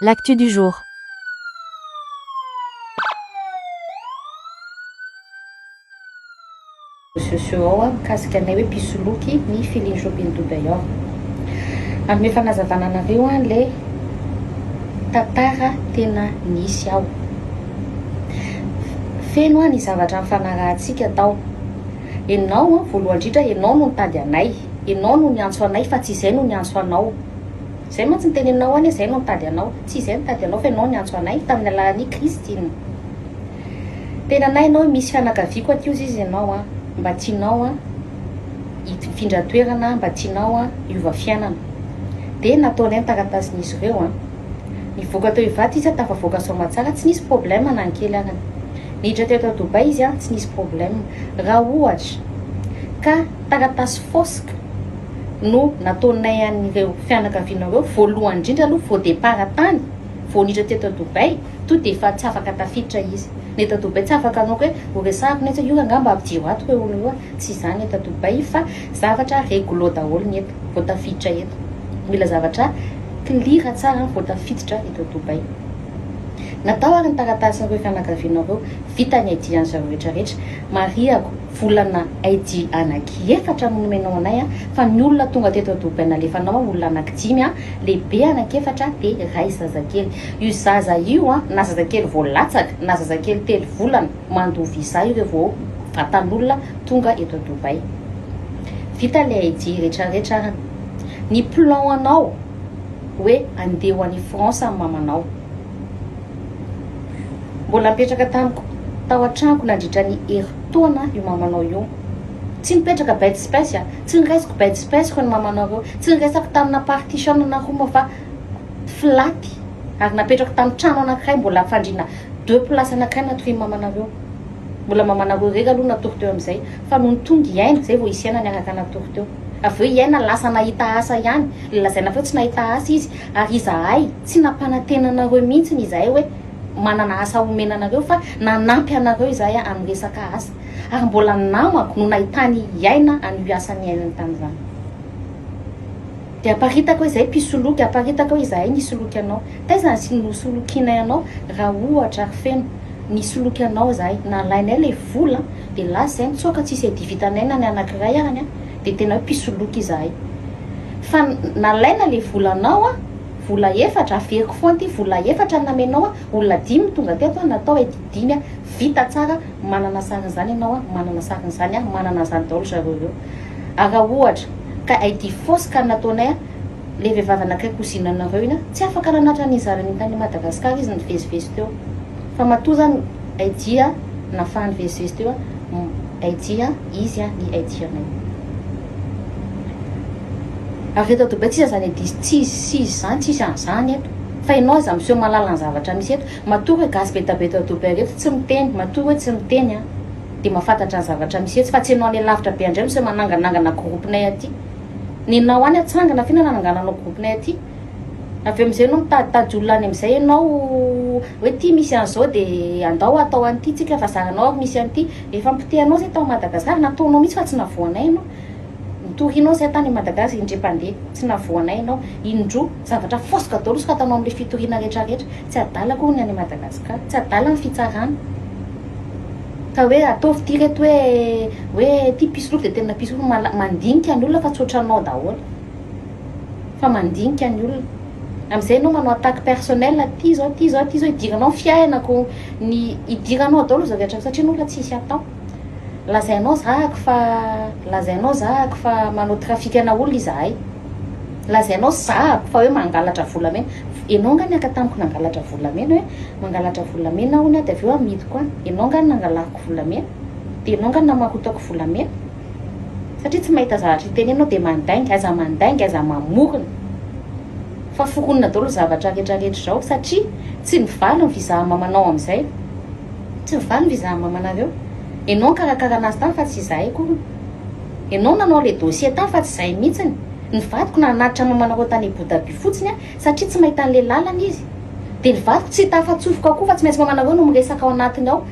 L'actu du jour. sociaux ao mikasika anay hoe mpisoloky ny feeling shopping to day off. Hanome fanazavana anareo aho le tantara tena nisy ao. Feno aho ny zavatra nifanarahantsika tao. Enao voalohany indrindra enao no nitady anay, enao no niantso anay fa tsy izay no niantso anao. Izay mantsy ny teneninao anie izay no nitady anao. Tsy izay no nitady anao fa ianao niantso anay tamin'ny alalan'i Kristy. Ny tenanay ianao hoe misy fianakaviako aty ozy izy ianao an, mba tianao an hifindra toerana an, mba tianao an hiova fiainana. Dia nataonay ny taratasin'izy ireo an. Nivoaka teo Ivato izy an, tafavoaka Soamatsara, tsy nisy problème na ny kely arany. Niditra teo tao Dubai izy an, tsy nisy problème. Raha ohatra ka taratasy fausse ka. no nataonay an'ireo fianakavianao ireo, voalohany indrindra aloha vao départ tany, vao niditra teto à Dubaï, tonga dia efa tsy afaka tafiditra izy, ny eto à Dubaï tsy afaka hanao hoe ho resahako ny eto, io rangahy mba ampidiro ato ireo olona ireo a, tsy izany ny eto à Dubaï fa zavatra réglo daholo ny eto vao tafiditra eto, mila zavatra clear tsara vao tafiditra eto à Dubaï. Natao ary ny taratasin'ireo fianakavianao ireo, vita ny ID-an'izareo rehetra rehetra, marihako, Volana AD anaky efatra no nomenao anay a, fa ny olona tonga teto Dubai nalefanao a, olona anaky dimy a, lehibe anaky efatra de ray zazakely. Io zaza io a, na zazakely vao latsaka, na zazakely telo volana, mandoa visa io re vao vatan'olona tonga eto Dubai. Vita le AD retraretra ara. Ny plan anao oe andeha ho any France am mamanao. Mbola nipetraka tamiko tao an-tranoko nandritra ny herintaona io mamanao io. Tsy nipetraka bête space a! Tsy niraisiko bête space ko ny mamanao ireo. Tsy niresako tamina partition na room fa flat ary napetrako tamin'ny trano anankiray mbola fandriana deux places anankiray natorian'ny mamanareo. Mbola mamanareo irery aloha natory teo amin'izay fa nony tonga i Aina izay vao hisy Aina niaraka natory teo. Avy eo i Aina lasa nahita asa ihany, lazaina fa hoe tsy nahita asa izy Ary izahay, tsy nampanantena anareo mihitsy izahay hoe manana asa homena anareo, fa nanampy anareo izahay amin'ny resaka asa. Ary mbola ny namako no nahitany hiaina an'io asa niainany tamin'izany. Dia aparitaka hoe izay mpisoloky, aparitaka hoe izahay nisoloky anao. Taiza ny nosolokianay anao, raha ohatra ary feno nisoloky anao izahay? Nalainay ilay vola, dia lasa izay, nitsoaka tsisy adivitanay na ny anankiray arany, dia tena hoe mpisoloky izahay. fa nalaina le volanao a, vola efatra, averiko foana ty, vola efatra namenao a, olona dimy no tonga teto a, natao edy dimy a, vita tsara, manana sarin'izany ianao a, manana sarin'izany aho, manana an'izany daholo zareo ireo a, raha ohatra ka ID fausse ka nataonay a, le vehivavy anankiray cousine anareo iny a, tsy afaka nanatra an'iny zanany iny tany Madagascar izy nivezivezy teo, fa matoa zany ID a, nafaha nivezivezy teo a, ID a, izy a, ny ID anay. Avy eto Dubai tsisa zany edy izy tsisy sizy zany tsisy an'izany eto fa enao aza miseho mahalala ny zavatra misy eto matoa hoe gasy betabe eto Dubai reto tsy miteny matoa hoe tsy miteny an dia mafantatra ny zavatra misy etsy fa tsy enao any lavitra be andray miseho mananganangana groupe-nay aty nenao any atsangana ve no nanangananao groupe-nay aty Avy eo amin'izay no mitaditady olona any amin'izay ianao hoe ity misy an'izao dia andao atao an'ity isika fa zahanao ary misy an'ity. Efa nipotehanao izay tao Madagasikara, nataonao mihitsy fa tsy navoanay ianao. Nitorianao izay tany Madagasikara indrem-pandeha, tsy navoanay ianao. Indroa, zavatra fosika daholo soratanao amin'ilay fitoriana rehetrarehetra. Tsy adala akory ny any Madagasikara, tsy adala ny fitsarana. Ka hoe ataovy ity ireto hoe hoe ity mpisoloky dia tena mpisoloky, mandinika ny olona fa tsy ohatranao daholo. fa mandinika ny olona amizay enao manao attaque personnel ty zao ty zao ty zao idiranao ny fiainako ny idiranao daolo zao rehetra satria enao efa tsisy atao lazainao zahako fa lazainao zahako fa manao trafikana olona izahay lazainao zahako fa hoe mangalatra volamena enao nga niaka tamiko nangalatra volamena hoe mangalatra volamena aho ny aho de avy eo amidiko any enao nga nangalako volamena de enao nga namakotaoko volamena satria tsy mahita zavatra hiteny enao de mandainga aiza mandainga aiza mamorona fa foronina daolo zavatra rehetra rehetra zao satria tsy mivaly ny visa mamanao amizay tsy mivaly ny visa mamanareo enao nkarakara anazy tany fa tsy izahay akoriny enao nanao le dossier tany fa tsy izahay mitsiny ny vadiko nanatitra mamanareo tany abodabi fotsiny a satria tsy mahita anle lalana izy de ny vadiko tsy hita afa-tsofiko akoa fa tsy maintsy mamanareo no miresaka ao anatiny ao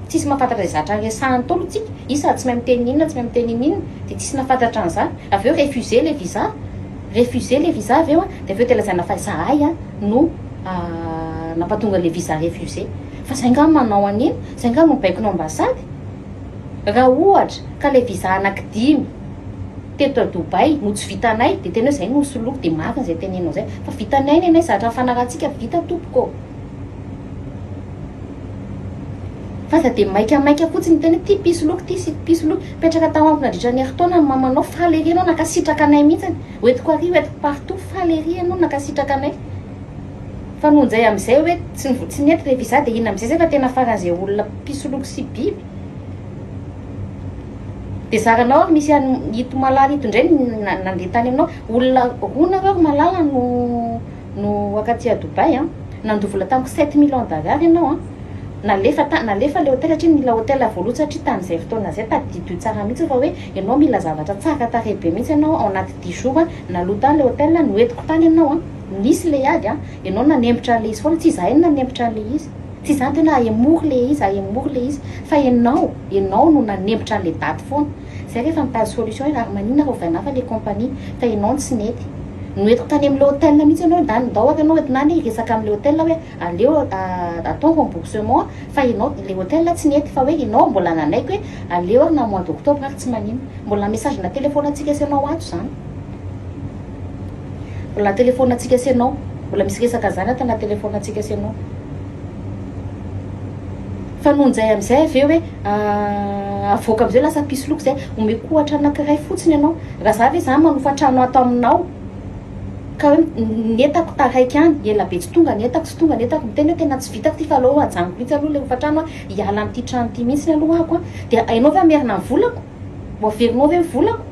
Tsisy mahafantatra izay zatra resahan'ny Ntaolo tsika, io sady tsy mahay miteny n'inona tsy mahay miteny n'inona, dia tsisy nahafantatra an'izany, avy eo refuser le visa, refuser le visa avy eo an, dia avy eo dia lazaina fa izahay an no nampatonga le visa refuser, fa izay nga no manao an'iny, izay nga no baikonao ambasady, raha ohatra ka le visa anaky dimy teto à Dubaï no tsy vitanay dia tena hoe izay no ho soloiko, dia marina izay tenenao izay, fa vitanay nenay zatra nifanarahantsika, vita tompoko ô. F'aza dia maika maika fotsiny tena ity mpisoloky ity sy mpisoloky. Mipetraka tao amiko nandritra ny herintaona ny mamanao, faly ery ianao nankasitraka anay mihitsiny. Hoentiko ary hoentiko partout, faly ery ianao nankasitraka anay. Fa noho njay amin'izay hoe tsy ny votsy nety rehefa izaho dia inona amin'izay izay fa tena faran'izay olona mpisoloky sy biby. Dia zaranao ary misy an'i ito malala ito indray ny nandeha tany aminao. Olona roa nareo ry malala no. no waka aty à Dubaï an, nandoa vola tamiko sept mille ans d'arare ianao an, nalefa tany nalefa le hôtel hatria nila hôtel avo loatra hatria tamin'izay fotoana zay, tadidio tsara mihitsy fa hoe ianao mila zavatra tsara tarehy be mihitsy ianao ao anaty dix jours an, naloa tany le hôtel an, noentiko tany ianao an, nisy le ady an, ianao nanempotra an'le izy foana, tsy izahay no nanempotra an'le izy, tsy izany tena ahemory le izy ahemory le izy fa ianao ianao no nanempotra an'le daty foana. Zay rehefa mitady solution ianao ary maninona raha ovaina hafa le compagnie fa ianao no tsy nety. Noentiko tany amin'ilay hotel mihitsy ianao ndany ndao ary ianao ndany hiresaka amin'ilay hotel hoe aleo atao remboursement fa ianao ilay hotel tsy nety fa hoe ianao mbola nanaiky hoe aleo ary na mois d'octobre ary tsy maninona. Mbola message na telephone antsika sy ianao ato izany. Mbola telephone antsika sy ianao. Mbola misy resaka izany ato na telephone antsika sy ianao. Fa noho izay amin'izay avy eo hoe aah avoaka amin'izay lasa mpisy loka izay, omeko ohatra anankiray fotsiny ianao, raha izaho ve izany manofa trano ato aminao ka hoe ny entako taraiky any, ela be tsy tonga ny entako, tsy tonga ny entako, miteny hoe tena tsy vitako ity fa aleo ajanoko mihitsy aloha ilay hofantrano an, hiala amin'ity trano ity mihitsy aloha aho an, dia ianao ve hamerina ny volako? Ho averinao ve ny volako?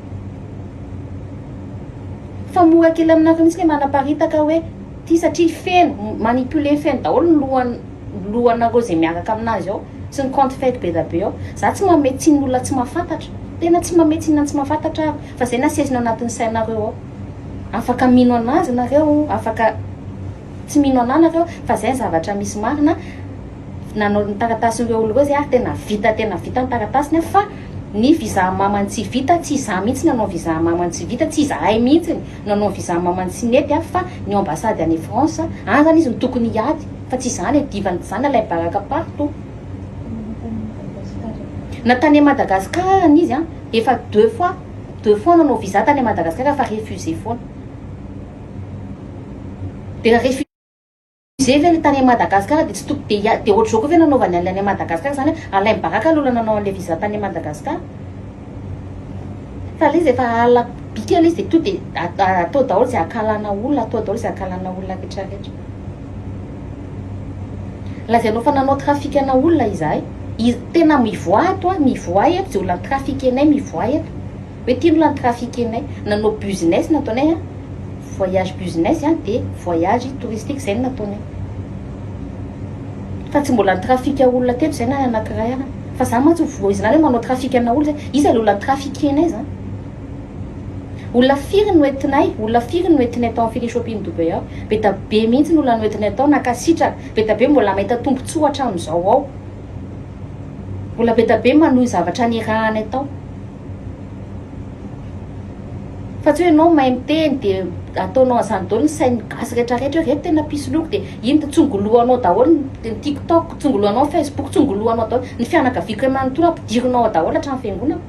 Fa mora kely aminareo mihitsy ny manaparitaka hoe ty satria feno, manipuler feno daholo ny lohan lohanareo izay miaraka aminazy ao sy ny compte fake be da be ao. Za tsy manome tsiny ny olona tsy mahafantatra, tena tsy manome tsiny ny tsy mahafantatra aho fa zay no asezina ao anatin'ny sainareo ao. Afaka mino anazy nareo, afaka. Tsy mino anah nareo fa zay ny zavatra misy marina nanao ny taratasin reo olona reo zay ary tena vita tena vita ny taratasiny a fa ny visa mamany tsy vita tsy izaho mihitsy nanao visa mamany tsy vita tsy izahay mihitsy nanao visa mamany tsy nety a fa ny ambassade any France any zany izy no tokony hiady fa tsy izaho le divan dizana lay baraka partout na tany Madagascar arany izy a efa deux fois deux fois nanao visa tany Madagascar fa refuse foana. De la refusee ve le tany Madagascar de tsy toko de ia de otrzao koa ve nanaovany anle any Madagascar zany hoe Alain Baraka aloha nanao anle visa tany Madagascar fa le izy efa ala bikany izy de to de atao daholo ze akalana olona atao daholo ze akalana olona rehetra rehetra lazainao fa nanao trafic ana olona izahay tena mivoaha ato a mivoaha eto ze olona trafic anay mivoaha eto Hoe ty aloha ny trafic enay nanao business no ataonay a, voyage business a dia voyage touristique izay no nataonay. Fa tsy mbola ni-trafic olona teto izay na anaty ray aza. Fa za mantsy voizina any hoe manao trafic ana olona izay. Iza ilay olona ni-trafic enay za? Olona firy no entinay, olona firy no entinay tao amin'ny Feeling Shopping Dubai ao? Be dia be mihitsy ny olona noentinay tao, nankasitraka, be dia be mbola mahita tombontsoa hatramin'izao ao. Mbola be dia be manohy zavatra niarahanay tao. Fa tsy hoe enao mahay miteny dia ataonao an'izany daholo ny sain'ny gasy rehetra rehetra hoe reto tena mpisoloky dia iny dia tsongolohanao daholo ny tiktok, tsongolohanao ny facebook, tsongolohanao daholo ny fianakaviako iray manontolo ampidirinao ao daholo hatramin'ny fiangonako.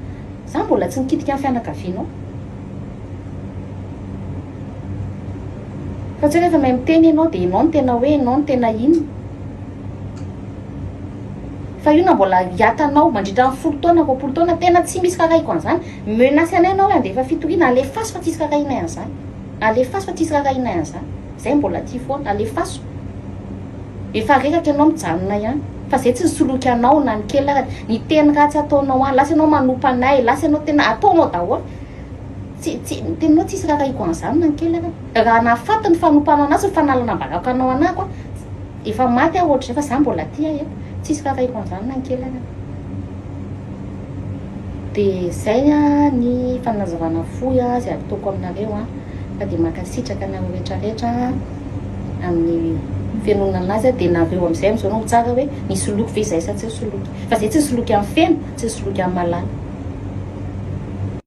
Za mbola tsy nikitika ny fianakavianao. Fa tsy hoe rehefa mahay miteny enao dia enao no tena hoe enao no tena inona. Fa io na mbola hiatanao mandritra ny folo taona, roapolo taona, tena tsy misy rarahiko an'izany. Menace anay ianao hoe handefa fitoriana, alefaso fa tsisy rarahinay an'izany. Alefaso fa tsisy rarahinay an'izany. Izay no mbola aty foana. Alefaso. Efa reraka ianao mijanona ihany. Fa izay tsy nisoloky anao na ny kely arany. Ny teny ratsy ataonao any. Lasa ianao manompa anay. Lasa ianao tena ataonao daholo. Tsy, tsy, ny teninao tsisy rarahiko an'izany na ny kely arany. Raha nahafaty ny fanompana an'azy, ny fanalana baraka anao anako aho, Efa maty aho ohatr'izay fa za mbola aty ahy a! Tsisy kakahiko androany na ny kely ary an! De zay ny fanazavana fohy azy ataoko aminareo an! Fa de mankasitraka anareo rehetra rehetra amin'ny fenonana anazy an! De nareo amizay amizao no mitsara hoe nisoloky ve izahay sa tsy nisoloky! Fa zay tsy nisoloky amin'ny feno tsy nisoloky amin'ny malala!